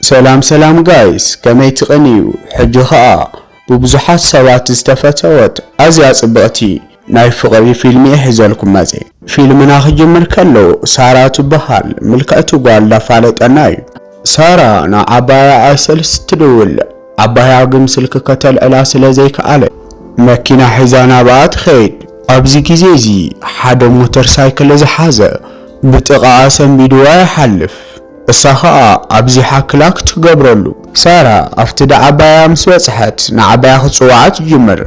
ሰላም ሰላም ጋይስ ከመይ ትቅንዩ ሕጂ ከኣ ብብዙሓት ሰባት ዝተፈተወት ኣዝያ ጽብቅቲ ናይ ፍቅሪ ፊልም እየ ሒዘልኩም መጼ ፊልምና ክጅምር ከሎ ሳራ ትብሃል ምልክዕቲ ጋል ዳፋለጠና እዩ ሳራ ን ዓባያ ኣይሰልስ ትድውል ዓባያ ግን ስልኪ ከተልዕላ ስለ ዘይከኣለት መኪና ሒዛ ናብኣ ትከይድ ኣብዚ ግዜ እዚ ሓደ ሞተር ሳይክል ዝሓዘ ብጥቃኣ ሰንቢድዋ ይሓልፍ። እሳ ኸኣ ኣብዚሓ ክላክ ትገብረሉ። ሳራ ኣብቲ ድዓባያ ምስ በጽሐት ንዓባያ ክትጽውዓ ትጅምር።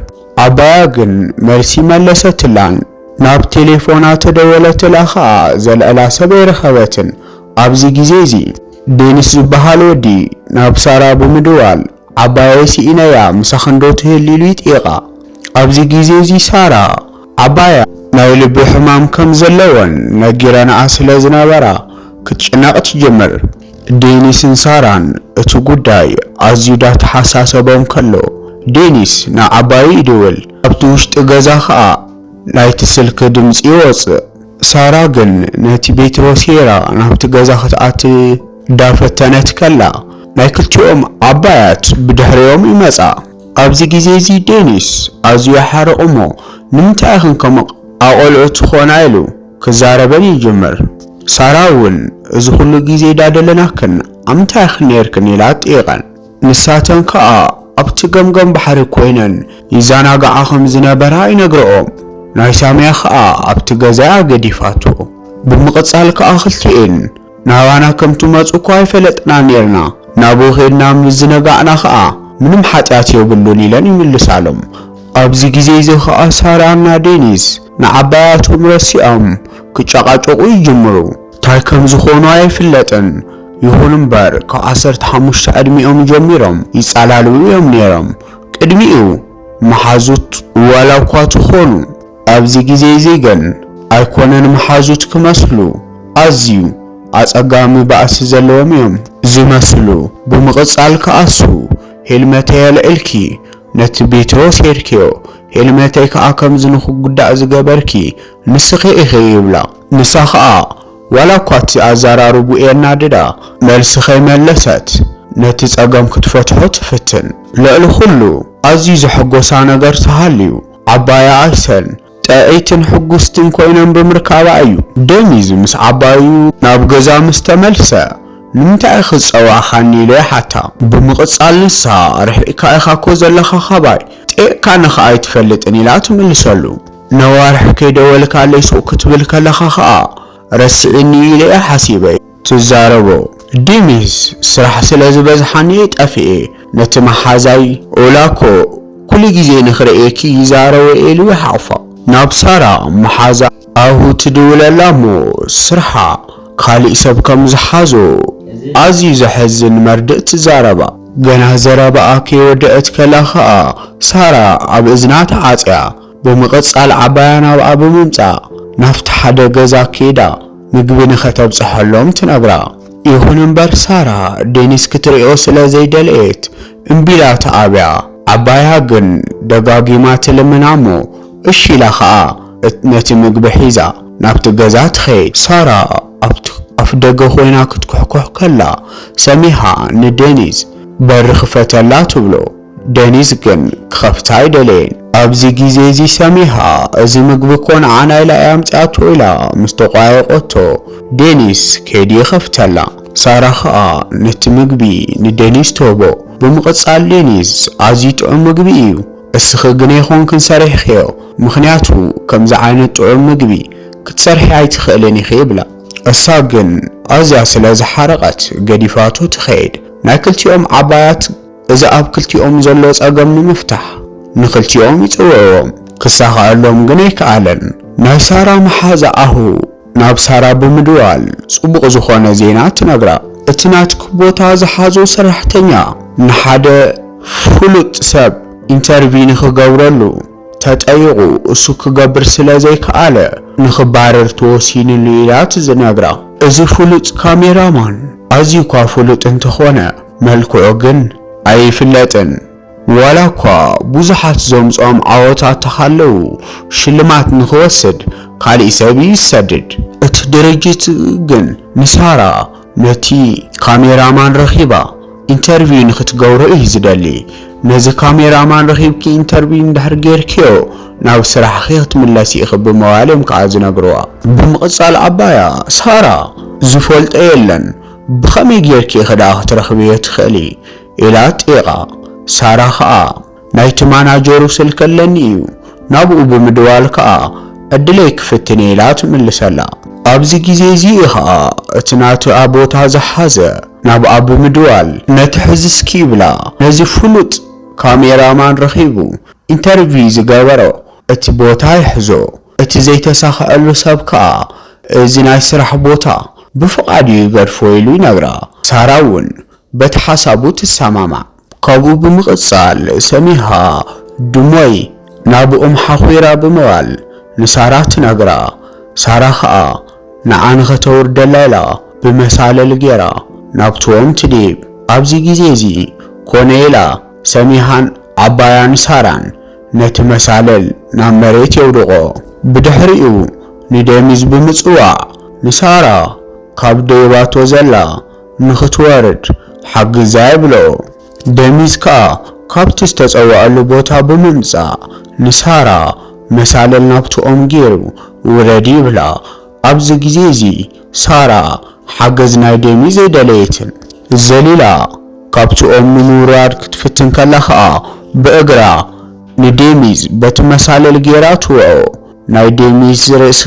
ዓባያ ግን መልሲ መለሰትላን። ናብ ቴሌፎና ተደወለትላ ኸኣ ዘልዕላ ሰብ ኣይረኸበትን። ኣብዚ ግዜዚ። ዴኒስ ዝበሃል ወዲ ናብ ሳራ ብምድዋል ዓባየይ ስኢነያ ምሳኽንዶ ትህሊ ኢሉ ይጥይቓ። ኣብዚ ግዜ'ዚ ሳራ፣ ዓባያ ናይ ልቢ ሕማም ከም ዘለወን ነጊረንኣ ስለ ዝነበራ ክትጭነቕ ትጅምር። ዴኒስን ሳራን እቲ ጉዳይ ኣዝዩ ዳተሓሳሰቦም ከሎ፣ ዴኒስ ንዓባዩ ይድውል። ካብቲ ውሽጢ ገዛ ከኣ ናይቲ ስልኪ ድምጺ ይወጽእ። ሳራ ግን ነቲ ቤት ወሲራ ናብቲ ገዛ ክትኣቲ። እንዳ ፈተነት ከላ ናይ ክልቲኦም ዓባያት ብድሕሪኦም ይመጻ። ኣብዚ ግዜ እዚ ዴኒስ ኣዝዩ ይሓርቕ እሞ ንምንታይ ኢኽን ከምኡ ኣቖልዑ ትኾና ኢሉ ክዛረበን ይጅምር። ሳራ እውን እዚ ኩሉ ግዜ ዳደለናክን ኣብ ምንታይ ኢኽን ኔርክን ኢላ ትጥይቐን። ንሳተን ከኣ ኣብቲ ገምገም ባሕሪ ኮይነን ይዛናግዓ ከም ዝነበራ ይነግረኦም። ናይ ሳሚያ ከኣ ኣብቲ ገዛ እያ ገዲፋቶ። ብምቕጻል ከኣ ክልቲኤን ናባና ከም ትመጹ እኳ ኣይፈለጥናን ኔርና፣ ናብኡ ኬድና ምስ ዝነጋዕና ኸኣ፣ ምንም ሓጢኣት የብሉን ኢለን ይምልሳሎም። ኣብዚ ግዜ እዚ ኸኣ ሳራና ዴኒስ ንዓባያቶም ረሲዖም ክጨቓጨቑ ይጅምሩ። ታይ ከም ዝኾኑ ኣይፍለጥን፣ ይኹን እምበር ካብ ዓሰርተ ሓሙሽተ ዕድሚኦም ጀሚሮም ይጻላልዉ እዮም ኔሮም፣ ቅድሚኡ መሓዙት ዋላ እኳ ተኾኑ። ኣብዚ ግዜ'ዚ ግን ኣይኮነን መሓዙት ክመስሉ፣ ኣዝዩ ኣጸጋሚ ባእሲ ዘለዎም እዮም ዝመስሉ። ብምቕጻል ከኣ'ሱ፣ ሄልመተይ ኣልዒልኪ ነቲ ቤትሮ ሰይርክዮ፣ ሄልመተይ ከኣ ከምዚ ንኽጉዳእ ዝገበርኪ ንስኺ ኢኺ ይብላ። ንሳ ከኣ ዋላ'ኳ እቲ ኣዘራርብኡ የናድዳ፣ መልሲ ከይመለሰት ነቲ ጸገም ክትፈትሖ ትፍትን። ልዕሊ ኹሉ ኣዝዩ ዘሐጎሳ ነገር ተሃልዩ። ዓባያ ኣሰል ጥዕይትን ሕጉስትን ኮይናም ብምርካባ እዩ። ደኒዝ ምስ ዓባዩ ናብ ገዛ ምስ ተመልሰ ንምንታይ ኢኺ ዝጸዋዕኻኒ ኢሉ ይሓታ። ብምቕጻል ንሳ ርሒቕካ ኢኻ እኮ ዘለኻ ካባይ፣ ጠይቕካኒ ከኣ ኣይትፈልጥን ኢላ ትምልሰሉ። ነዋርሕ ከይደወልካለይ ሱቕ ክትብል ከለኻ ከኣ ረሲዒኒ ኢለ እየ ሓሲበ። ትዛረቦ ዲምስ ስራሕ ስለ ዝበዝሓኒ ጠፊኤ ነቲ ማሓዛይ ኦላ እኮ ኩሉ ግዜ ንክርእየኪ ይዛረቦ ኤሉ ይሓቁፋ ናብ ሳራ ማሓዛ ኣሁ ትድውለላ እሞ ስርሓ ካሊእ ሰብ ከም ዝሓዞ ኣዝዩ ዘሕዝን መርድእ ትዛረባ። ገና ዘረባኣ ከይወደእት ከላ ከኣ ሳራ ኣብ እዝና ተዓጽያ ብምቕጻል ዓባያ ናብኣ ብምምጻእ ናብቲ ሓደ ገዛ ከይዳ ምግቢ ንኸተብጽሐሎም ትነግራ። ይኹን እምበር ሳራ ዴኒስ ክትርእዮ ስለ ዘይደለየት እምቢ ኢላ ትኣብያ። ዓባያ ግን ደጋጊማ ትልምና እሞ እሺ ኢላ ኸኣ ነቲ ምግቢ ሒዛ ናብቲ ገዛ ትኸይድ። ሳራ ኣብቲ ኣፍደገ ኮይና ክትኩሕኩሕ ከላ ሰሚሃ ንዴኒስ በሪ ክፈተላ ትብሎ። ደኒዝ ግን ክኸፍታ ኣይደለየን። ኣብዚ ግዜ እዚ ሰሚሃ እዚ ምግቢ እኮ ንዓና ኢላ እያ ኣምጺኣቶ ኢላ ምስ ተቋየቆቶ ደኒዝ ከይዱ ይኸፍተላ። ሳራ ከኣ ነቲ ምግቢ ንደኒዝ ትህቦ። ብምቕጻል ደኒዝ ኣዝዩ ጥዑም ምግቢ እዩ እስኺ ግን ኣይኮንክን ሰሪሕኽዮ ምኽንያቱ ከምዚ ዓይነት ጥዑም ምግቢ ክትሰርሒ ኣይትኽእልን ኢኺ ይብላ። እሳ ግን ኣዝያ ስለ ዝሓረቐት ገዲፋቶ ትኸይድ። ናይ ክልቲኦም ዓባያት። እዚ ኣብ ክልቲኦም ዘሎ ጸገም ንምፍታሕ ንኽልቲኦም ይጽውዕዎም ክሳኻኣሎም ግን ኣይካኣለን ናይ ሳራ ማሓዛ ኣሁ ናብ ሳራ ብምድዋል ጽቡቅ ዝኾነ ዜና ትነግራ እቲ ናትኪ ቦታ ዝሓዞ ሰራሕተኛ ንሓደ ፍሉጥ ሰብ ኢንተርቪ ንኽገብረሉ ተጠይቁ እሱ ክገብር ስለ ዘይካኣለ ንኽባረር ተወሲንሉ ኢላ ትዝነግራ እዚ ፍሉጥ ካሜራ ማን ኣዝዩኳ ፍሉጥ እንተኾነ መልክዑ ግን ኣይፍለጥን። ዋላ እኳ ብዙሓት ዘምጽኦም ዓወታት ተሃለዉ፣ ሽልማት ንኽወስድ ካልእ ሰብ እዩ ዝሰድድ። እቲ ድርጅት ግን ንሳራ ነቲ ካሜራ ማን ረኺባ ኢንተርቪው ንኽትገብሮ እዩ ዝደሊ። ነዚ ካሜራ ማን ረኺብኪ ኢንተርቪው እንድሕር ጌርክዮ ናብ ስራሕኺ ክትምለሲ ኢኺ ብምባል እዮም ከኣ ዝነግርዋ። ብምቕጻል ዓባያ ሳራ ዝፈልጦ የለን። ብኸመይ ጌርኪ ኢኺ ደኣ ክትረኽብዮ ትኽእሊ? ኢላ ጢቓ። ሳራ ከኣ፣ ናይቲ ማናጀሩ ስልኪ ኣለኒ እዩ፣ ናብኡ ብምድዋል ከኣ ዕድለይ ክፍትን እየ ኢላ ትምልሰላ። ኣብዚ ግዜ እዚ እዩ ኸኣ እቲ ናትኣ ቦታ ዝሓዘ፣ ናብኣ ብምድዋል፣ ነቲ ሕዚ እስኪ ይብላ ነዚ ፍሉጥ ካሜራ ማን ረኺቡ ኢንተርቪው ዝገበሮ እቲ ቦታ ይሕዞ፣ እቲ ዘይተሳኸዐሉ ሰብ ከኣ እዚ ናይ ስራሕ ቦታ ብፍቓዱ ይገድፎ ኢሉ ይነግራ። ሳራ እውን በቲ ሓሳቡ ትሰማማዕ። ካብኡ ብምቕጻል ሰሚሃ ድሞይ ናብኦም ሓዂራ ብምባል ንሳራ ትነግራ። ሳራ ከኣ ንዓ ንኸተውርደላ ኢላ ብመሳልል ገይራ ናብትኦም ትድይብ። ኣብዚ ግዜ እዚ ኮነ ኢላ ሰሚሃን ዓባያን ሳራን ነቲ መሳልል ናብ መሬት የውድቖ። ብድሕሪኡ ንዴሚዝ ብምጽዋዕ ንሳራ ካብ ደይባቶ ዘላ ንኽትወርድ ሓግዛ ይብሎ። ዴሚዝ ከኣ ካብቲ ዝተጸውዐሉ ቦታ ብምምጻእ ንሳራ መሳልል ናብቲ ኦም ጌሩ ውረዲ ይብላ። ኣብዚ ግዜ እዚ ሳራ ሓገዝ ናይ ዴሚ ዘይደለየትን። ዘሊላ ካብቲ ኦም ንምውራድ ክትፍትን ከላ ከኣ ብእግራ ንዴሚዝ በቲ መሳልል ጌራ ትወቕዖ። ናይ ዴሚዝ ርእሲ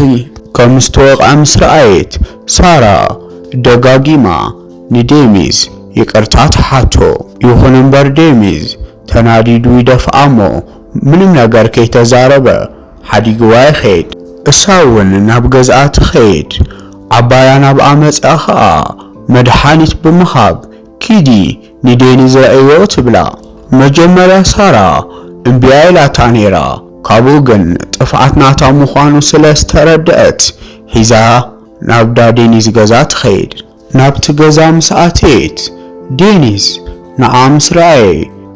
ከም ዝተወቕዐ ምስ ረኣየት ሳራ ደጋጊማ ንዴሚዝ ይቅርታ ትሓቶ። ይኹን እምበር ዴሚዝ ተናዲዱ ይደፍኣ'ሞ ምንም ነገር ከይተዛረበ ሓዲግዋ ይኸይድ። እሳ'ውን ናብ ገዝኣ ትኸይድ። ዓባያ ናብኣ መጺኣ ኸኣ መድሓኒት ብምሃብ ኪዲ ንዴኒዝ ረኣይዮ ትብላ። መጀመርያ ሳራ እምቢ'ያ ኢላታ ነይራ፣ ካብኡ ግን ጥፍኣት ናታ ምዃኑ ስለ ዝተረደኣት ሒዛ ናብ'ዳ ዴኒዝ ገዛ ትኸይድ። ናብቲ ገዛ ምስ ኣትየት፣ ዴኒዝ ንዓ ምስ ረኣየ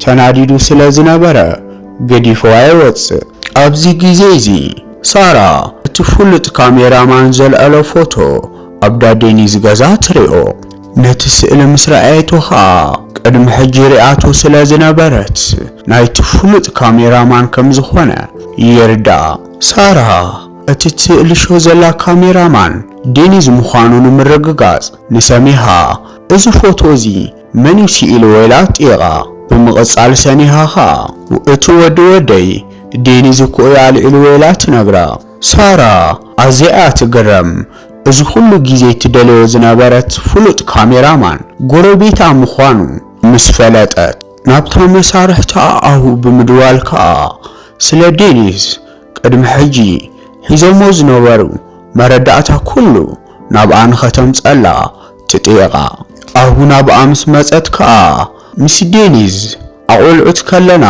ተናዲዱ ስለ ዝነበረ ገዲፍዋ ይወጽእ። ኣብዚ ግዜ እዚ ሳራ እቲ ፍሉጥ ካሜራ ማን ዘልዐሎ ፎቶ ኣብ ዳ ዴኒዝ ገዛ ትሪኦ። ነቲ ስእሊ ምስ ረኣየቶ ከኣ ቅድሚ ሕጂ ሪኣቶ ስለ ዝነበረት ናይቲ ፍሉጥ ካሜራ ማን ከም ዝኾነ ይርድኣ። ሳራ እቲ ትእልሾ ዘላ ካሜራ ማን ዴኒዝ ምዃኑ ንምርግጋጽ ንሰሚሃ እዚ ፎቶ እዚ መን እዩ ስኢልዎ ኢላ ኣጥይቓ። ብምቕጻል ሰኒሃ ከኣ እቲ ወዲ ወደይ ዴኒዝ እኮ እዩ ኣልዒልዎ ኢላ ትነግራ። ሳራ ኣዝያ እያ ትግረም እዚ ኩሉ ግዜ ትደልዮ ዝነበረት ፍሉጥ ካሜራ ማን ጎረቤታ ምዃኑ ምስ ፈለጠት ናብታ መሳርሕታ ኣኣሁ ብምድዋል ከኣ ስለ ዴኒዝ ቅድሚ ሕጂ ሒዞሞ ዝነበሩ መረዳእታ ኩሉ ናብኣ ንኸተምጸላ ትጥይቓ። ኣሁ ናብኣ ምስ መጸት ከኣ ምስ ዴኒዝ ኣቖልዑት ከለና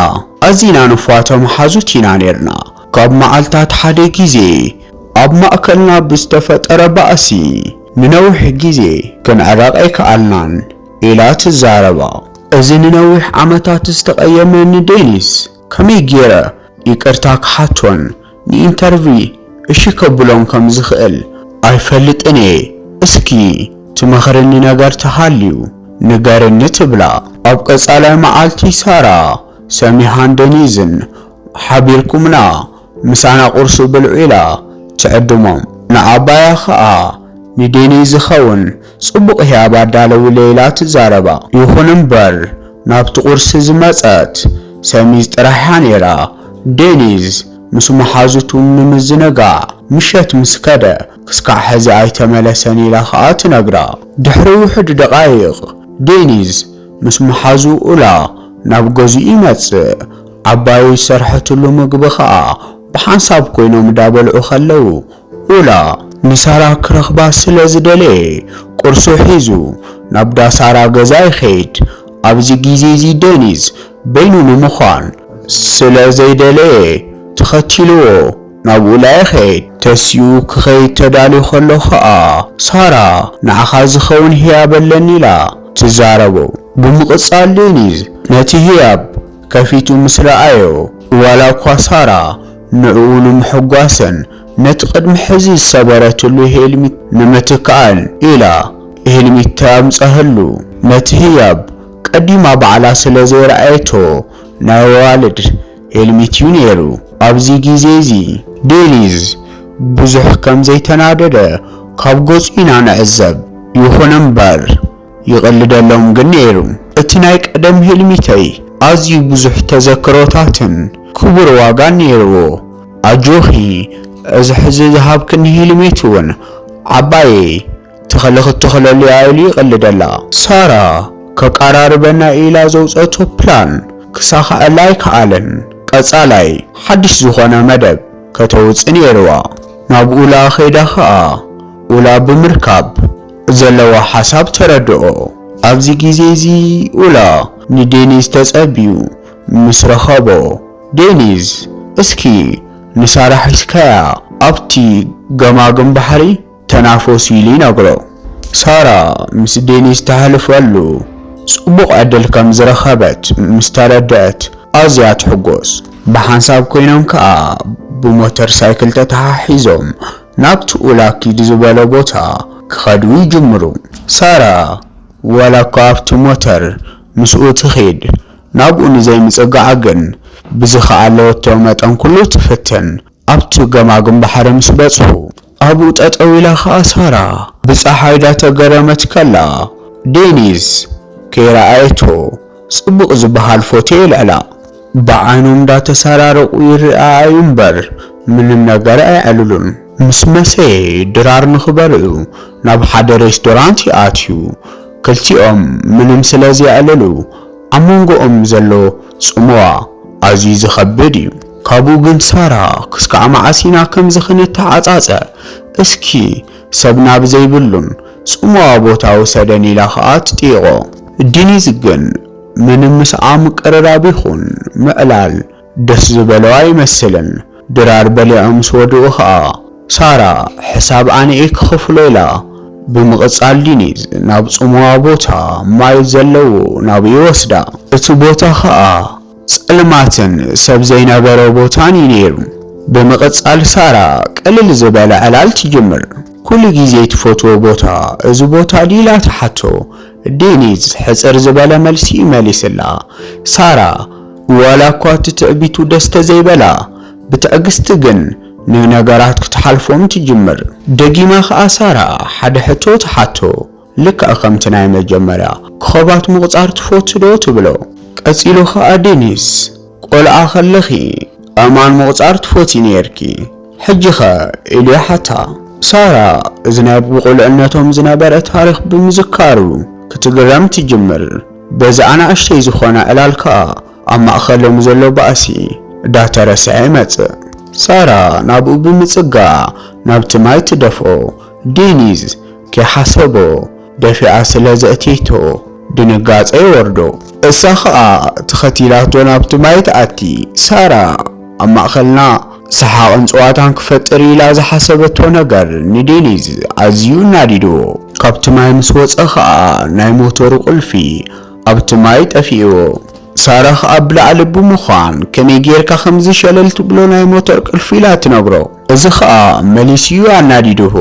ኣዚና ንፏቶ መሓዙት ኢና ኔርና። ካብ መዓልታት ሓደ ግዜ ኣብ ማእከልና ብዝተፈጠረ ባእሲ ንነዊሕ ግዜ ክንዕረቕ ኣይከኣልናን ኢላ ትዛረባ። እዚ ንነዊሕ ዓመታት ዝተቐየመኒ ዴኒዝ፣ ከመይ ጌረ ይቅርታ ክሓቶን ንኢንተርቪ እሺ ከብሎን ከም ዝኽእል ኣይፈልጥን እየ እስኪ ትመኽርኒ ነገር ተሃልዩ ንገርኒ ትብላ። ኣብ ቀጻላይ መዓልቲ ሳራ ሰሚሃን ደኒዝን ሓቢርኩምና ምሳና ቁርሲ ብልዑ ኢላ ትዕድሞም ንዓባያ ከኣ ንዴኒዝ ዝኸውን ጽቡቕ ህያብ ኣዳለዊለይ ኢላ ትዛረባ። ይኹን እምበር ናብቲ ቁርሲ ዝመጸት ሰሚዝ ጥራሕ እያ ነይራ። ዴኒዝ ምስ መሓዙቱ ንምዝንጋዕ ምሸት ምስ ከደ ክስካዕ ሕዚ ኣይተመለሰን ኢላ ከኣ ትነግራ። ድሕሪ ውሑድ ደቓይቕ ዴኒዝ ምስ መሓዙ ኡላ ናብ ገዝኡ ይመጽእ። ዓባየይ ዝሰርሐትሉ ምግቢ ከኣ ብሓንሳብ ኮይኖም እዳበልዑ ከለዉ ኡላ ንሳራ ክረኽባ ስለ ዝደለየ ቁርሱ ሒዙ ናብዳ ሳራ ገዛ ይኸይድ። ኣብዚ ግዜዚ ደኒዝ በይኑ ንምዃን ስለ ዘይደለየ ተኸቲሉዎ ናብ ኡላ ይኸይድ። ተሲኡ ክኸይድ ተዳልዩ ከሎ ከኣ ሳራ ንዓኻ ዝኸውን ህያብ ኣለኒ ኢላ ትዛረቦ። ብምቕጻል ደኒዝ ነቲ ህያብ ከፊቱ ምስ ረኣዮ ዋላኳ ሳራ ንዕኡ ንምሕጓስን ነቲ ቅድሚ ሕዚ ዝሰበረትሉ ሂልሚት ንምትካእን ኢላ ሂልሚት ተምጸህሉ። ነቲ ህያብ ቀዲማ ባዕላ ስለ ዘይረኣየቶ ናይ ኣዋልድ ሂልሚት'ዩ ነይሩ። ኣብዚ ግዜ'ዚ ዴኒዝ ብዙሕ ከም ዘይተናደደ ካብ ገጹ ኢና ንዕዘብ። ይኹን'ምበር ይቕልደሎም ግን ነይሩ እቲ ናይ ቀደም ህልሚተይ ኣዝዩ ብዙሕ ተዘክሮታትን ክቡር ዋጋን ነይርዎ ኣጆኺ እዚ ሕዚ ዝሃብክኒ ህልሚት ውን ዓባየይ ተኽሊ ክትተኽለሉ እያ ኢሉ ይቕልደላ። ሳራ ከቃራርበና ኢላ ዘውጸቶ ፕላን ክሳኸዐላ ኣይከኣለን ቀጻላይ ሓድሽ ዝኾነ መደብ ከተውጽእ ነይርዋ ናብ ኡላ ከይዳ ከኣ ኡላ ብምርካብ ዘለዎ ሓሳብ ተረድኦ ኣብዚ ግዜ እዚ ኡላ ንዴኒዝ ተጸብዩ ምስ ረኸቦ ዴኒዝ እስኪ ንሳራ ሒዝካያ ኣብቲ ገማግም ባሕሪ ተናፈሱ ኢሉ ይነግሮ ሳራ ምስ ዴኒዝ ተሕልፈሉ ጽቡቕ ዕድል ከም ዝረኸበት ምስ ተረድኣት ኣዝያ ትሕጎስ ብሓንሳብ ኮይኖም ከኣ ብሞተር ሳይክል ተተሓሒዞም ናብቲ ኡላ ኪድ ዝበሎ ቦታ ክኸዱ ይጅምሩ። ሳራ ዋላኳ ኣብቲ ሞተር ምስኡ ትኺድ ናብኡ ንዘይምጽጋዓ ግን ብዝኸኣለቶ መጠን ኩሉ ትፍትን። ኣብቲ ገማግም ባሕሪ ምስ በጽሑ ኣብኡ ጠጠው ኢላ ከኣ ሳራ ብጸሓይ ዳተገረመት ከላ ዴኒዝ ከይረኣየቶ ጽቡቅ ዝባሃል ፎቶ የልዕላ ብዓይኖም ዳተሰራረቁ ይራኣኣዩ እምበር ምንም ነገር ኣይዕልሉን። ምስ መሰየ ድራር ንክበር እዩ ናብ ሓደ ሬስዶራንት ይኣትዩ ክልቲኦም ምንም ስለ ዘየዕልሉ ኣብ መንጎኦም ዘሎ ጽምዋ ኣዝዩ ዝከብድ እዩ። ካብኡ ግን ሳራ ክስካዕ መዓስ ኢና ከምዚ ክንተዓጻጸ እስኪ ሰብ ናብ ዘይብሉን ጽምዋ ቦታ ውሰደኒ ኢላ ከኣ ትጥይቖ። ዲኒዝ ግን ምንም ምስኣ ምቅርራብ ይኹን ምዕላል ደስ ዝበሎ ኣይመስልን። ድራር በሊዖም ምስ ወድኡ ከኣ ሳራ ሕሳብ ኣነ'የ ክኽፍሎ ኢላ። ብምቕጻል ዲኒዝ ናብ ጽምዋ ቦታ ማይ ዘለዎ ናብኡ ይወስዳ። እቲ ቦታ ከኣ ጸልማትን ሰብ ዘይነበሮ ቦታን እዩ ነይሩ። ብምቕጻል ሳራ ቅልል ዝበለ ዕላል ትጅምር። ኩሉ ግዜ ትፈትዎ ቦታ እዚ ቦታ ድዩ ኢላ ትሓቶ። ዴኒዝ ሕጽር ዝበለ መልሲ እዩ መሊስላ። ሳራ ዋላ እኳ እቲ ትዕቢቱ ደስ ተዘይበላ ብትዕግስቲ ግን ንነገራት ክትሓልፎም ትጅምር። ደጊማ ከኣ ሳራ ሓደ ሕቶ ትሓቶ። ልክዕ ከምቲ ናይ መጀመርያ፣ ኮኾባት ምቑጻር ትፈቱ ዶ? ትብሎ። ቀጺሉ ከኣ ደኒስ፣ ቆልዓ ከለኺ ኣእማን ምቑጻር ትፈትዪ ኔርኪ፣ ሕጂኸ? ኢሉ ይሓታ። ሳራ እዚ ናይ ብቑልዕነቶም ዝነበረ ታሪኽ ብምዝካሩ ክትግረም ትጅምር። በዚ ኣናእሽተይ ዝኾነ ዕላል ከኣ ኣብ ማእከሎም ዘሎ ባእሲ ዳተረስዐ ይመጽእ። ሳራ ናብኡ ብምጽጋዕ ናብቲ ማይ ትደፍኦ። ዴኒዝ ከይሓሰቦ ደፊኣ ስለ ዘእትየቶ ድንጋጸ ይወርዶ። እሳ ኸኣ ተኸቲላቶ ናብቲ ማይ ትኣቲ። ሳራ ኣብ ማእከልና ሰሓቕን ጸዋታን ክፈጥር ኢላ ዝሓሰበቶ ነገር ንዴኒዝ ኣዝዩ ኣናዲድዎ። ካብቲ ማይ ምስ ወጸ ኸኣ ናይ ሞቶሩ ቁልፊ ኣብቲ ማይ ጠፊእዎ። ሳራ ኸኣ ብላዕሊ ብምዃን ከመይ ጌርካ ከምዚ ሸለል ትብሎ ናይ ሞቶር ቅልፊ ኢላ ትነግሮ። እዚ ከኣ መሊሱ'ዩ ኣናዲዱሁ።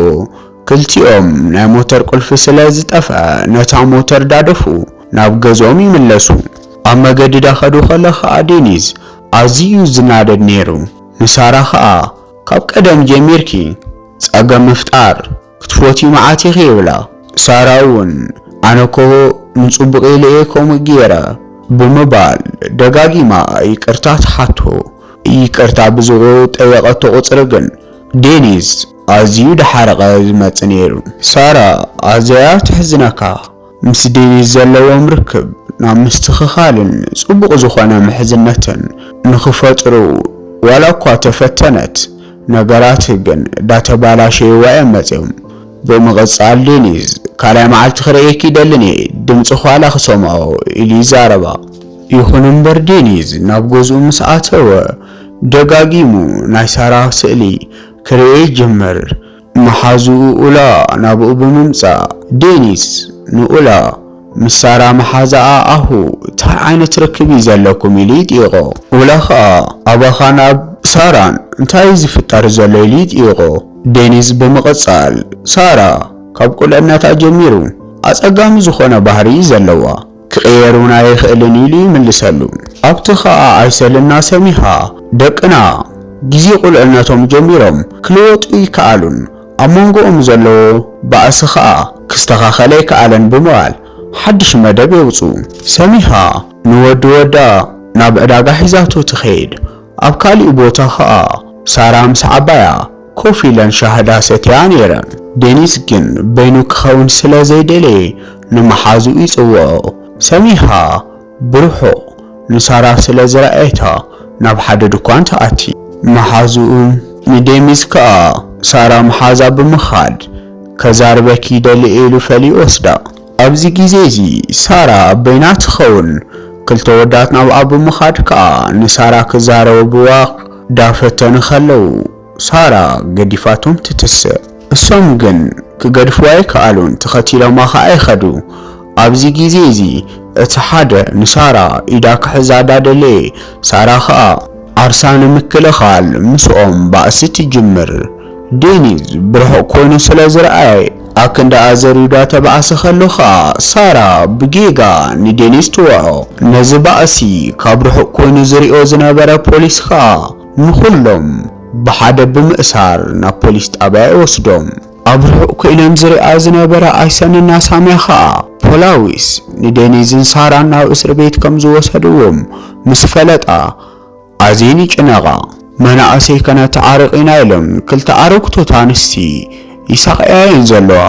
ክልቲኦም ናይ ሞተር ቁልፊ ስለ ዝጠፍኣ ነታ ሞተር ዳደፉ ናብ ገዝኦም ይምለሱ። ኣብ መገዲ ዳኸዱ ከሎ ከኣ ዴኒዝ ኣዝዩ'ዩ ዝናደድ ነይሩ። ንሳራ ከኣ ካብ ቀደም ጀሚርኪ ጸገም ምፍጣር ክትፎትዪ መዓት ኢኺ ይብላ። ሳራ እውን ኣነኮ ንፅቡቕ ኢለ እየ ከምኡ ገይረ ብምባል ደጋጊማ ይቅርታ ትሓቶ። ይቅርታ ብዝጠየቐቶ ቁፅሪ ግን ዴኒዝ ኣዝዩ ዳሓረቐ ዝመፅእ ነይሩ። ሳራ ኣዝያ ተሕዝነካ። ምስ ዴቪድ ዘለዎም ርክብ ናብ ምስትኽኻልን ጽቡቕ ዝኾነ ምሕዝነትን ንኽፈጥሩ ዋላ እኳ ተፈተነት፣ ነገራት ግን ዳተባላሸይዋ እዮም መጺኦም። ብምቕጻል ዴኒዝ፣ ካልኣይ መዓልቲ ክርእየኪ ይደልን እየ፣ ድምጽኺ ዋላ ክሰምዖ፣ ኢሉ ይዛረባ። ይኹን እምበር ዴኒዝ ናብ ገዝኡ ምስ ኣተወ ደጋጊሙ ናይ ሳራ ስእሊ ክርእይ ይጅምር። መሓዝኡ ኡላ ናብኡ ብምምጻእ፣ ዴኒስ ንኡላ ምስ ሳራ መሓዛኣ ኣሁ ታይ ዓይነት ርክብ እዩ ዘለኩም ኢሉ ይጥይቖ። ኡላ ኸኣ ኣባኻን ኣብ ሳራን እንታይ እዩ ዝፍጠር ዘሎ ኢሉ ይጥይቖ። ዴኒስ ብምቕጻል፣ ሳራ ካብ ቁልዕነታ ጀሚሩ ኣጸጋሚ ዝኾነ ባህሪ እዩ ዘለዋ። ክቅየር ውን ኣይኽእልን ኢሉ ይምልሰሉ ኣብቲ ኸኣ ኣይሰልና ሰሚሃ ደቅና ግዜ ቁልዕነቶም ጀሚሮም ክልወጡ ኣይከኣሉን ኣብ መንጎኦም ዘለዎ ባእሲ ኸኣ ክስተኻኸል ኣይከኣለን ብምባል ሓድሽ መደብ የውጽኡ ሰሚሃ ንወዲ ወዳ ናብ ዕዳጋ ሒዛቶ ትኸይድ ኣብ ካሊእ ቦታ ኸኣ ሳራ ምስ ዓባያ ኮፍ ኢለን ሻሂ ዳስ ሰትያ ነይረን። ዴኒስ ግን በይኑ ክኸውን ስለ ዘይደለየ ንመሓዝኡ ይጽውዖ። ሰሚሃ ብርሑቕ ንሳራ ስለ ዝረኣየታ ናብ ሓደ ድኳን ትኣቲ። መሓዝኡ ንዴሚስ ከኣ ሳራ ምሓዛ ብምኻድ ከዛርበኪ ይደሊ ኢሉ ፈልዩ ይወስዳ። ኣብዚ ግዜ እዚ ሳራ በይና ትኸውን። ክልተ ወዳት ናብኣ ብምኻድ ከኣ ንሳራ ክዛረብዋ ዳ ፈተኑ ከለዉ ሳራ ገዲፋቶም ትትስእ። እሶም ግን ክገድፍዋ ኣይከኣሉን ተኸቲሎማ ከኣ ይኸዱ። ኣብዚ ግዜ እዚ እቲ ሓደ ንሳራ ኢዳ ክሕዛ ዳ ደለየ ሳራ ከኣ ዓርሳ ንምክልኻል ምስኦም ባእሲ ትጅምር። ዴኒዝ ብርሑቕ ኮይኑ ስለ ዝረኣየ ኣክንዳኣ ዘርዩዳ ተባእሲ ከሎ ከኣ ሳራ ብጌጋ ንዴኒዝ ትወዖ። ነዚ ባእሲ ካብ ርሑቕ ኮይኑ ዝሪኦ ዝነበረ ፖሊስ ከኣ ንኹሎም ብሓደ ብምእሳር ናብ ፖሊስ ጣብያ ይወስዶም። ኣብ ርሑቕ ኮይነን ዝሪኣ ዝነበራ ኣይሰን እና ሳሚያ ከኣ ፖላዊስ ንዴኒዝን ሳራን ናብ እስርቤት ከም ዝወሰድዎም ምስ ፈለጣ፣ ኣዝየን ይጭነቓ። መናእሰይ ከነተዓርቕ ኢና ኢሎም ክልተ ኣረግቶት ኣንስቲ ይሳቐያ'የን ዘለዋ።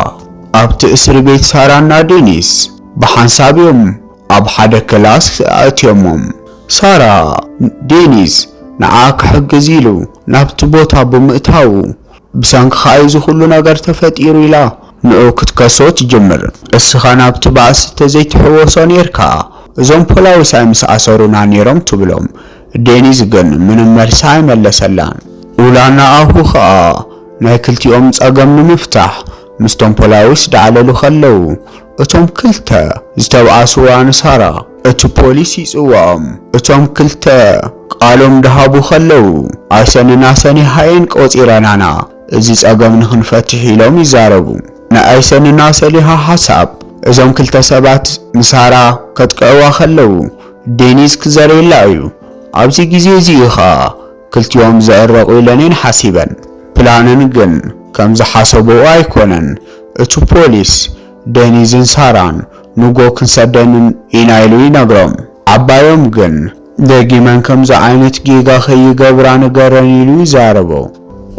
ኣብቲ እስርቤት ሳራና ዴኒስ ብሓንሳብ'ዮም ኣብ ሓደ ክላስ ኣእትዮሞም። ሳራ፣ ዴኒስ ንዓ ክሕግዝ ኢሉ ናብቲ ቦታ ብምእታዉ፣ ብሰንክኻ እዩ እዚ ኹሉ ነገር ተፈጢሩ ኢላ ንዑ ክትከሶ ትጅምር። እስኻ ናብቲ ባእሲ ተዘይትሕወሶ ኔርካ እዞም ፖላዊሳይ ምስ ኣሰሩና ኔሮም ትብሎም። ዴኒዝ ግን ምንም መልሲ ኣይመለሰላን። ኡላ ንኣሁ ኸኣ ናይ ክልቲኦም ጸገም ንምፍታሕ ምስቶም ፖላዊስ ዳዕለሉ ከለዉ እቶም ክልተ ዝተብኣስዋ ንሳራ፣ እቲ ፖሊስ ይጽውዖም። እቶም ክልተ ቃሎም ዳሃቡ ከለዉ፣ ኣይሰንና ሰኒሃ እየን ቆጺረናና እዚ ጸገም ንክንፈትሕ ኢሎም ይዛረቡ። ናይ ኣይሰንና ሰሊሃ ሓሳብ እዞም ክልተ ሰባት ንሳራ ከጥቅዕዋ ከለዉ ዴኒዝ ክዘርየላ እዩ። ኣብዚ ግዜ እዚ እዩ ከኣ ክልቲኦም ዝዕረቁ ኢለን እየን ሓሲበን። ፕላነን ግን ከምዝሓሰበኦ ኣይኮነን። እቲ ፖሊስ ደኒዝን ሳራን ንጎ ክንሰደንን ኢና ኢሉ ይነግሮም። ዓባዮም ግን ደጊመን ከምዚ ዓይነት ጌጋ ከይገብራ ንገረን ኢሉ ይዛረቦ።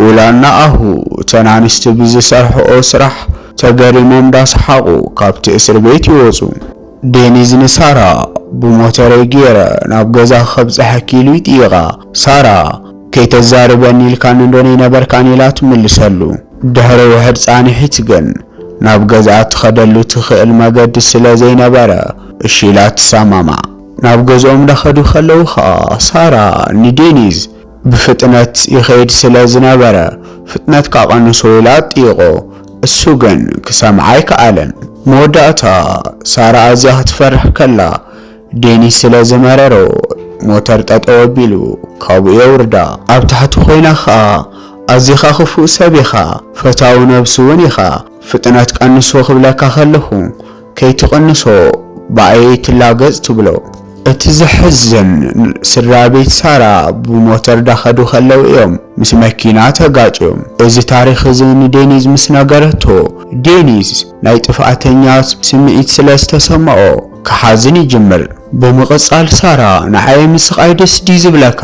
ኡላን ንኣሁ እተን ኣንስቲ ብዝሰርሕኦ ስራሕ ተገሪሞም ዳሰሓቑ ካብቲ እስር ቤት ይወጹ። ደኒዝ ንሳራ ብሞተረይ ጌረ ናብ ገዛኺ ከብጽሐኪ ኢሉ ይጥይቓ። ሳራ ከይተዛርበኒ ኢልካኒ ዶ ነይነበርካን ኢላ ትምልሰሉ። ድሕሪ ውሑድ ጻንሒት ግን፣ ናብ ገዝኣ ትኸደሉ ትኽእል መገዲ ስለ ዘይነበረ፣ እሺ ኢላ ትሰማማዕ። ናብ ገዝኦም እንዳኸዱ ከለዉ ከኣ፣ ሳራ ንዴኒዝ፣ ብፍጥነት ይኸይድ ስለ ዝነበረ፣ ፍጥነትካ ቀንሶ ኢላ ትጥይቖ። እሱ ግን ክሰምዓ ኣይከኣለን። መወዳእታ፣ ሳራ ኣዝያ ክትፈርሕ ከላ፣ ዴኒስ ስለ ዝመረሮ ሞተር ጠጠው ኣቢሉ ካብኡ የውርዳ። ኣብ ታሕቲ ኮይና ከኣ ኣዚኻ ክፉእ ሰብ ኢኻ ፈታዊ ነብሱ ውን ኢኻ ፍጥነት ቀንሶ ክብለካ ከለኹ ከይትቅንሶ ብኣየይ ትላገጽ ትብሎ። እቲ ዘሕዝን ስድራቤት ሳራ ብሞተር ዳኸዱ ከለው እዮም ምስ መኪና ተጋጭዮም እዚ ታሪኽ እዚ ንዴኒዝ ምስ ነገረቶ ዴኒዝ ናይ ጥፍኣተኛ ስምዒት ስለ ዝተሰምዖ ክሓዝን ይጅምር። ብምቕጻል ሳራ ንዓይ ምስቓይ ደስ ድዩ ዝብለካ?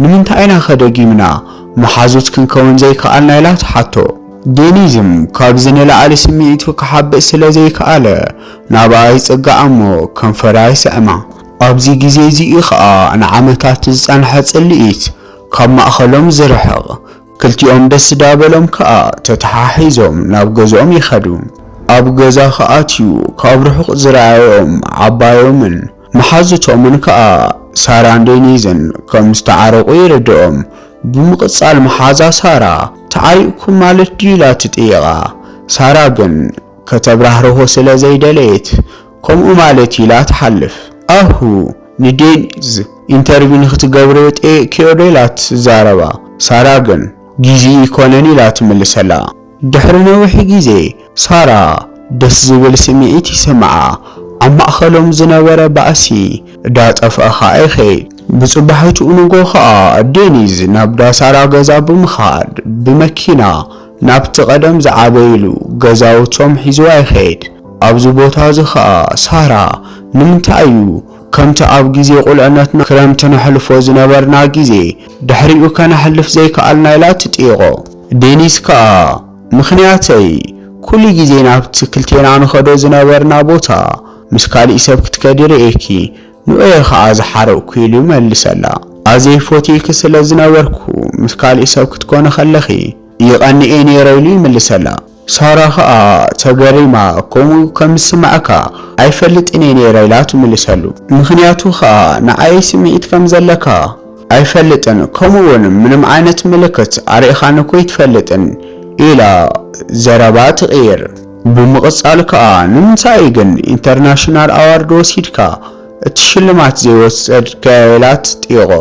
ንምንታይ ኢና ከ ደጊምና መሓዙት ክንከውን ዘይከኣልና? ኢላ ትሓቶ። ዴኒዝም ካብዚ ንላዕሊ ስምዒቱ ክሓብእ ስለ ዘይከኣለ ናብኣ ይጽጋዕ እሞ ከንፈራ ይስዕማ። ኣብዚ ግዜ እዚ እዩ ከኣ ንዓመታት ዝጸንሐ ጽልኢት ካብ ማእከሎም ዝርሕቕ። ክልቲኦም ደስ ዳ በሎም ከኣ ተተሓሒዞም ናብ ገዝኦም ይኸዱ። ኣብ ገዛ ክኣትዩ ካብ ርሑቕ ዝረኣዩኦም ዓባዮምን መሓዙቶምን ከኣ ሳራን ዴኒዝን ከም ዝተዓረቑ ይርድኦም። ብምቕጻል መሓዛ ሳራ ተዓሪቕኩም ማለት ድዩ ኢላ ትጥይቓ። ሳራ ግን ከተብራህርሆ ስለ ዘይደለየት ከምኡ ማለት ኢላ ትሓልፍ ኣሁ ንዴኒዝ ኢንተርቪ ንክትገብርዮ ጠይቅክዮዶ ኢላ ትዛረባ ሳራ ግን ጊዚ እይኮነን ኢላ ትምልሰላ ድሕሪ ነዊሕ ጊዜ ሳራ ደስ ዝብል ስሚዒት ይስምዓ ኣብ ማእከሎም ዝነበረ ባእሲ ዳጠፍኣ ከኣ ይከይድ ብጽባሒትኡ ንጎ ከኣ ዴኒዝ ናብ ዳሳራ ገዛ ብምካድ ብመኪና ናብቲ ቀደም ዝዓበይሉ ገዛውቶም ሒዝዋ ይከይድ ኣብዚ ቦታ እዚ ኸኣ ሳራ ንምንታይ እዩ ከምቲ ኣብ ግዜ ቁልዕነትና ክረምቲ ነሕልፎ ዝነበርና ግዜ ድሕሪኡ ከነሕልፍ ዘይከኣልና ኢላ ትጥይቖ። ዴኒስ ከኣ ምኽንያተይ ኩሉ ግዜ ናብቲ ክልቴና ንኸዶ ዝነበርና ቦታ ምስ ካሊእ ሰብ ክትከዲ ርእየኪ ንዑ እየ ኸኣ ዝሓረቕኩ ኢሉ ይመልሰላ። ኣዜብ ፎትየኪ ስለ ዝነበርኩ ምስ ካሊእ ሰብ ክትኮኒ ከለኺ ይቐንእ እየ ኔረ ኢሉ ይምልሰላ። ሳራ ከኣ ተገሪማ ከምኡ ከም ዝስመዓካ ኣይፈልጥን'የ ነይረ ኢላ ትምልሰሉ። ምኽንያቱ ከኣ ንዓይ ስምዒት ከም ዘለካ ኣይፈልጥን ከምኡ'ውን ምንም ዓይነት ምልክት ኣርኢኻኒ ከይትፈልጥን ኢላ ዘረባ ትቕይር። ብምቕጻል ከኣ ንምንታይ'ዩ ግን ኢንተርናሽናል ኣዋርድ ወሲድካ እቲ ሽልማት ዘይወሰድካዮ ኢላ ትጥይቖ።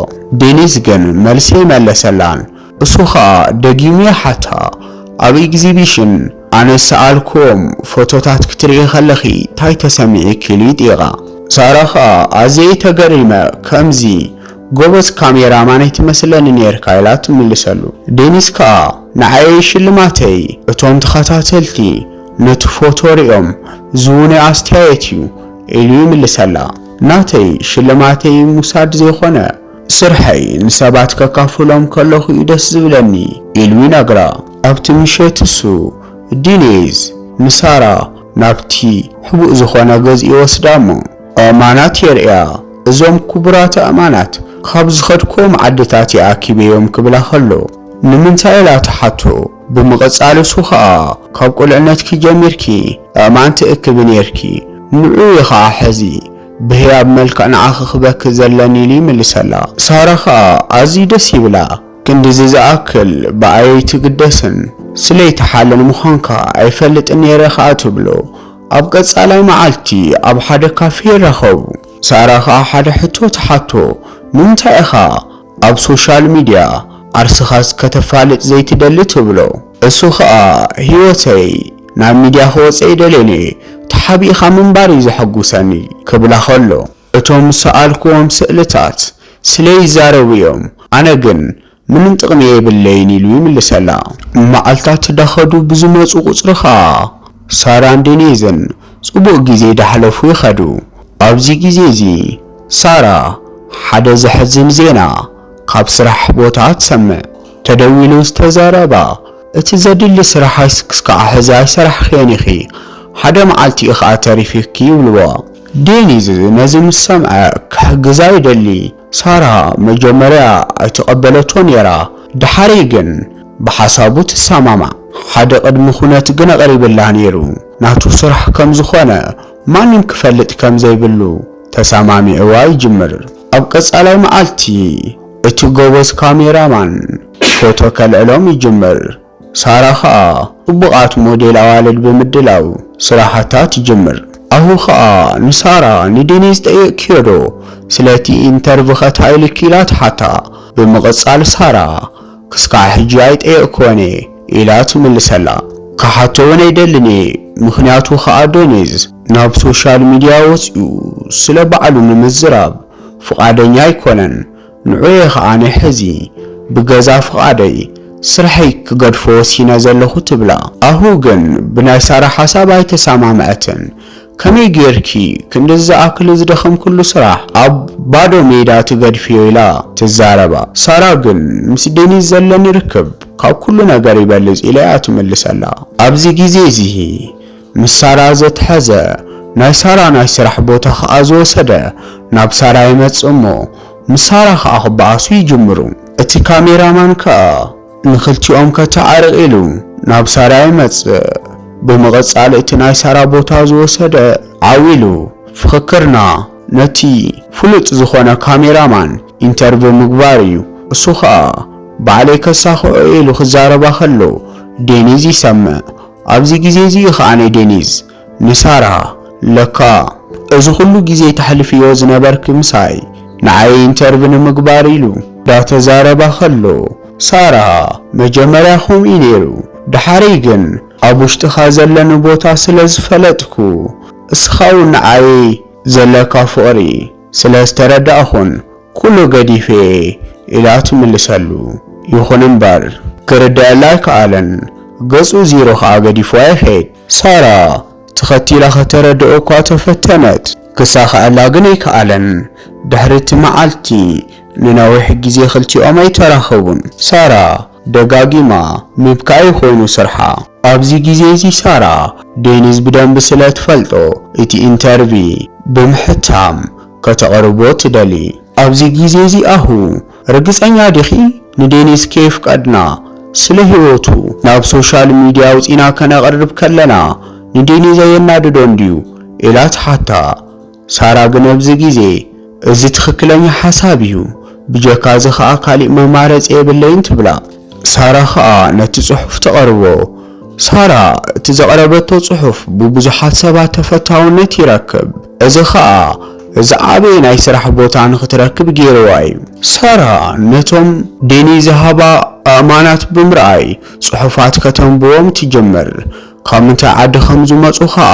ዴኒስ ግን መልሲ ኣይመለሰላን። እሱ ኸኣ ደጊሙ ይሓታ፣ ኣብ ኤግዚቢሽን ኣነ ዝሰኣልክዎም ፎቶታት ክትርእዪ ከለኺ ታይ ተሰሚዒኪ? ኢሉ ይጥይቓ። ሳራ ኸኣ ኣዝየ ተገሪመ፣ ከምዚ ጎበዝ ካሜራማን ኣይትመስለንን ኔርካ ኢላ ትምልሰሉ። ዴኒስ ከኣ ንዓየይ ሽልማተይ እቶም ተኸታተልቲ ነቲ ፎቶ ሪኦም ዝህቡኒ ኣስተያየት እዩ ኢሉ ይምልሰላ። ናተይ ሽልማተይ ምውሳድ ዘይኮነ ስርሐይ ንሰባት ከካፍሎም ከለኹ'ዩ ደስ ዝብለኒ ኢሉ ይነግራ። ኣብቲ ምሸት እሱ፣ ዲኔዝ፣ ንሳራ ናብቲ ሕቡእ ዝኾነ ገዝኡ ይወስዳ'ሞ ኣእማናት የርእያ። እዞም ክቡራት ኣእማናት ካብ ዝኸድክዎም ዓድታት'የ ኣኪበዮም ክብላ ከሎ ንምንታይ ኢላ ትሓቶ። ብምቕጻል እሱ ከኣ ካብ ቁልዕነትኪ ጀሚርኪ ኣእማን ትእክቢ ኔርኪ፣ ንዑኡ ኢኺ ከኣ ሕዚ ብህያብ መልክዕ ንዓኺ ክበኪ ዘለኒ ኢሉ ይምልሰላ። ሳራ ከኣ ኣዝዩ ደስ ይብላ። ክንድዚ ዝኣክል ብኣይ ኣይትግደስን፣ ስለይ ትሓልል ምዃንካ ኣይፈልጥን ነይረ ከኣ ትብሎ። ኣብ ቀጻላይ መዓልቲ ኣብ ሓደ ካፌ ይራኸቡ። ሳራ ከኣ ሓደ ሕቶ ትሓቶ፣ ንምንታይ ኢኻ ኣብ ሶሻል ሚድያ ዓርስኻስ ከተፋልጥ ዘይትደሊ ትብሎ። እሱ ኸኣ ሂወተይ ናብ ሚድያ ክወጽ ኣይደልን'የ ተሓቢእኻ ምንባር እዩ ዘሐጉሰኒ ክብላ ከሎ እቶም ዝሰኣልክዎም ስእልታት ስለይ ይዛረቡ እዮም ኣነ ግን ምንም ጥቅሚ የብለይን ኢሉ ይምልሰላ። መዓልታት ዳኸዱ ብዝመጹ ቁጽሪ ኸኣ ሳራን ዴኔዝን ጽቡቕ ግዜ ዳሕለፉ ይኸዱ። ኣብዚ ግዜ እዚ ሳራ ሓደ ዘሕዝን ዜና ካብ ስራሕ ቦታ ትሰምዕ። ተደዊሉ ዝተዘረባ እቲ ዘድሊ ስራሕስ ክስካዕ ሕዚ ኣይሰራሕክዮን ኢኺ፣ ሓደ መዓልቲ ኢዩ ከኣ ተሪፊኪ ይብልዋ። ዴኒዝ ነዚ ምስ ሰምዐ ክሕግዛ ይደሊ። ሳራ መጀመርያ ኣይተቐበለቶ ኔራ ደሓረይ ግን ብሓሳቡ ትሰማማዕ። ሓደ ቅድሚ ኩነት ግን ኣቕሪብላ ኔሩ ናቱ ስራሕ ከም ዝኾነ ማንም ክፈልጥ ከም ዘይብሉ ተሰማሚዕዋ ይጅምር። ኣብ ቀጻላይ መዓልቲ እቲ ጎበዝ ካሜራ ማን ፎቶ ከልዕሎም ይጅምር። ሳራ ከኣ ጽቡቓት ሞዴል ኣዋልድ ብምድላው ስራሓታ ትጅምር። ኣሁ ከኣ ንሳራ ንዲኒዝ ጠይቕክዮ ዶ ስለቲ ኢንተርቭኸ ታይ ኢልኪ ኢላ ትሓታ። ብምቕጻል ሳራ ክስካዕ ሕጂ ኣይጠየቕክወን እየ ኢላ ትምልሰላ። ክሓቶ ውን ኣይደልን እየ ምኽንያቱ ከኣ ዶኒዝ ናብ ሶሻል ሚድያ ወጺኡ ስለ ባዕሉ ንምዝራብ ፍቓደኛ ኣይኮነን። ንዑ'የ ከኣ ሕዚ ብገዛ ፍቓደይ ስርሐይ ክገድፎ ወሲነ ዘለኹ ትብላ። ኣሁ ግን ብናይ ሳራ ሓሳብ ኣይተሰማምዐትን። ከመይ ጌርኪ ክንድዚ ዝኣክል ዝደኸምክሉ ስራሕ ኣብ ባዶ ሜዳ ትገድፍዮ ኢላ ትዛረባ። ሳራ ግን ምስ ዴኒዝ ዘለኒ ርክብ ካብ ኩሉ ነገር ይበልጽ ኢለ'ያ ትምልሰላ። ኣብዚ ግዜ'ዚ። ምስ ሳራ ዘትሐዘ ናይ ሳራ ናይ ስራሕ ቦታ ኸኣ ዝወሰደ ናብ ሳራ ይመጽእ እሞ ምስ ሳራ ኸኣ ክበኣሱ ይጅምሩ እቲ ካሜራ ማን ከኣ ንኽልቲኦም ከተዓርቅ ኢሉ ናብ ሳራ ይመጽእ ብምቅጻል እቲ ናይ ሳራ ቦታ ዝወሰደ ዓው ኢሉ ፍኽክርና ነቲ ፍሉጥ ዝኾነ ካሜራ ማን ኢንተርቭ ምግባር እዩ እሱ ኸኣ ባዕለይ ከሳኽዖ እየ ኢሉ ክዛረባ ከሎ ዴኒዝ ይሰምዕ ኣብዚ ግዜ እዚ ኸኣ ንዴኒዝ ንሳራ ለካ እዚ ኹሉ ግዜ ተሕልፍዮ ዝነበርኪ ምሳይ ንዓይ ኢንተርቪ ንምግባር ኢሉ ዳተዛረባ ኸሎ ሳራ መጀመርያ ኹምኡ እዩ ነይሩ ዳሓረይ ግን ኣብ ውሽጥኻ ዘለኒ ቦታ ስለ ዝፈለጥኩ እስኻ ውን ንዓይ ዘለካ ፍቕሪ ስለ ዝተረዳእኹን ኩሉ ገዲፌ'የ ኢላ ትምልሰሉ። ይኹን እምበር ክርደኣላ ኣይከኣለን። ገጹ ዚሮ ከኣ ገዲፍዋ ይኸይድ። ሳራ ተኸቲላ ከተረድኦ'ኳ ተፈተነት። ክሳኸኣላ ግን ኣይከኣለን። ድሕሪ'ቲ መዓልቲ ንነዊሕ ግዜ ክልቲኦም ኣይተራኸቡን። ሳራ ደጋጊማ ምብካይ እዩ ኮይኑ ስርሓ። ኣብዚ ግዜ እዚ ሳራ ዴኒዝ ብደንቢ ስለ ትፈልጦ እቲ ኢንተርቪ ብምሕታም ከተቕርቦ ትደሊ። ኣብዚ ግዜ እዚ ኣሁ ርግጸኛ ዲኺ ንዴኒዝ ከየፍቀድና ስለ ሂወቱ ናብ ሶሻል ሚድያ ኣውጺና ከነቕርብ ከለና ንዴኒዝ ኣየናድዶን ድዩ ኢላ ትሓታ። ሳራ ግን ኣብዚ ግዜ እዚ ትክክለኛ ሓሳብ እዩ ብጀካ እዚ ከኣ ካሊእ መማረጺ የብለይን ትብላ። ሳራ ከኣ ነቲ ጽሑፍ ተቅርቦ። ሳራ እቲ ዘቅረበቶ ጽሑፍ ብብዙሓት ሰባት ተፈታውነት ይረክብ እዚ ከኣ ዝዓበየ ናይ ስራሕ ቦታ ንክትረክብ ጌርዋ እዩ። ሳራ ነቶም ዴኒ ዝሃባ ኣእማናት ብምርኣይ ጽሑፋት ከተንብቦም ትጅምር። ካብ ምንታይ ዓዲ ከም ዝመጹ ከኣ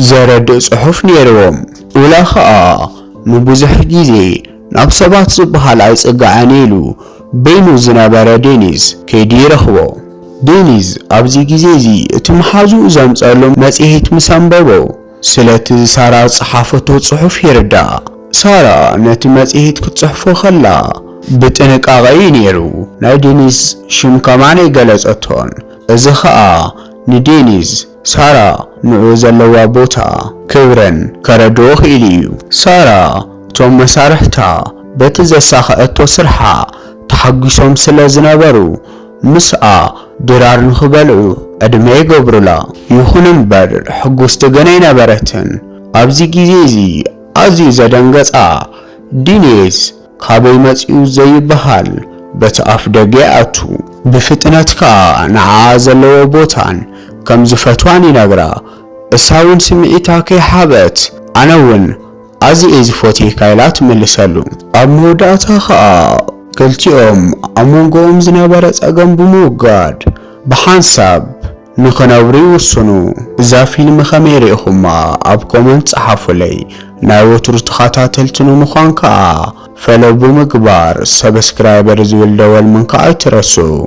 ዘረድእ ጽሑፍ ነይርዎም። ኡላ ከኣ ንብዙሕ ግዜ ናብ ሰባት ዝበሃል ኣይጽጋዕን ኢሉ በይኑ ዝነበረ ዴኒዝ ከይዱ ይረኽቦ። ዴኒዝ ኣብዚ ግዜ'ዚ እቲ መሓዝኡ ዘምጸኣሉ መጽሔት ምስ ኣንበቦ ስለቲ ሳራ ዝጸሓፈቶ ጽሑፍ ይርዳእ። ሳራ ነቲ መጽሔት ክትጽሕፎ ከላ ብጥንቃቐ እዩ ነይሩ ናይ ዴኒዝ ሽም ከማን ኣይገለጸቶን። እዚ ኸኣ ንዴኒዝ፣ ሳራ ንዑኡ ዘለዋ ቦታ፣ ክብረን ከረድኦ ክኢሉ እዩ። ሳራ እቶም መሳርሕታ በቲ ዘሳኸዐቶ ስርሓ ተሓጒሶም ስለ ዝነበሩ፣ ምስኣ ድራር ንኽበልዑ ዕድመ ይገብሩላ። ይኹን እምበር ሕጉስቲ ግን ኣይነበረትን። ኣብዚ ግዜ እዚ ኣዝዩ ዘደንገጻ ዴኒዝ፣ ካበይ መጺኡ ዘይብሃል በቲ ኣፍደገ ይኣቱ። ብፍጥነት ከኣ ንዓኣ ዘለዎ ቦታን ከም ዝፈትዋን ይነግራ። እሳውን ስምዒታ ከይሓበት ኣነውን ኣዚየ ዝፎትየካ ኢላ ትምልሰሉ። ኣብ መወዳእታ ከኣ ክልቲኦም ኣብ መንጎኦም ዝነበረ ጸገም ብምውጋድ ብሓንሳብ። ንኽነብሪ ውስኑ እዛ ፊልም ከመይ ሪኢኹማ ኣብ ኮመንት ጸሓፉለይ ናይ ወትሩ ተኻታተልቲ ንምዃን ከኣ ፈለው ብምግባር ሰብስክራይበር ዝብል ደወል ምንካእ ኣይትረስኡ።